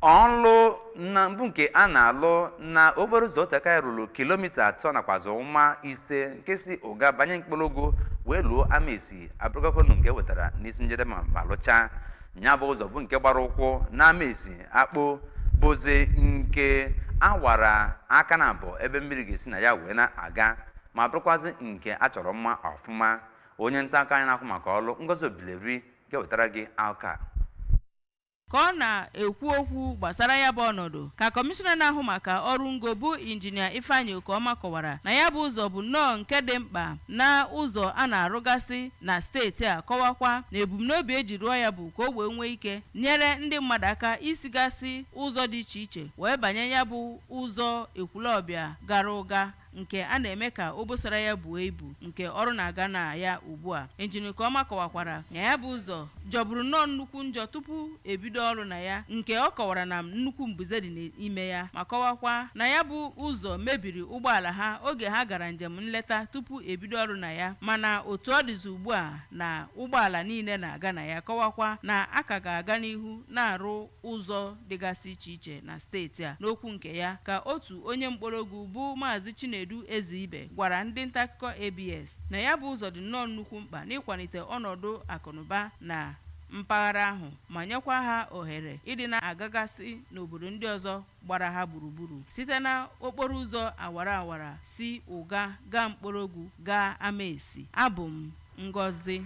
ọlụ ngo bụ nke a na-alụ na okporo ụzọ oteaka ya ruru kilomita atọ nakwazi ụma ise nke si ụga banye mkpọrọgwụ wee luo amaesi abụrụgokwanụ nke e wetara n'isi njedebe ma lụchaa nya bụ ụzọ bụ nke gbara ụkwụ na amaesi akpo bụzi nke awara aka na abụọ ebe mmiri ga-esi na ya wee na-aga ma bụrụkwazị nke a chọrọ mma ọfụma onye ntaakụkọ anyị na-ahụ maka ọlụ ngozi obileri ga-ewetara gị aka ka ọ na-ekwu okwu gbasara ya bụ ọnọdụ ka kọmishọna na-ahụ maka ọrụ ngo bụ injinia ifeanyị okoma kọwara na ya bụ ụzọ bụ nnọọ nke dị mkpa na ụzọ a na-arụgasị na steeti a kọwakwa na ebumnobi eji rụọ ya bụ ka o wee nwee ike nyere ndị mmadụ aka isigasị ụzọ dị iche iche wee banye ya bụ ụzọ ekwulọbịa gara ụga nke a na-eme ka obosara ya buo ibu nke ọrụ na-aga na ya ugbu a injinia okoma kọwakwara na ya bụ ụzọ jọburu nnọọ nnukwu njọ tupu ebido ọrụ na ya nke ọ kọwara na nnukwu mbuze dị n'ime ya ma kọwakwa na ya bụ ụzọ mebiri ụgbọala ha oge ha gara njem nleta tupu ebido ọrụ na ya mana otu ọ dịzi ugbu a na ụgbọala niile na-aga na ya kọwakwa na a ka ga-aga n'ihu na-arụ ụzọ dịgasị iche iche na steeti a. N'okwu nke ya ka otu onye Mkpọrọgwụ bụ Maazị Chinedu Ezeibe gwara ndị ntaakụkọ ABS na ya bụ ụzọ dị nnọọ nnukwu mkpa n'ịkwalite ọnọdụ akụnụba na mpaghara ahụ ma nyekwa ha ohere ịdị na-agagasị n'obodo ndị ọzọ gbara ha gburugburu site na okporo ụzọ awara awara si Ụga gaa Mkpọrọgwụ gaa Amaesi. Abụ m Ngọzi.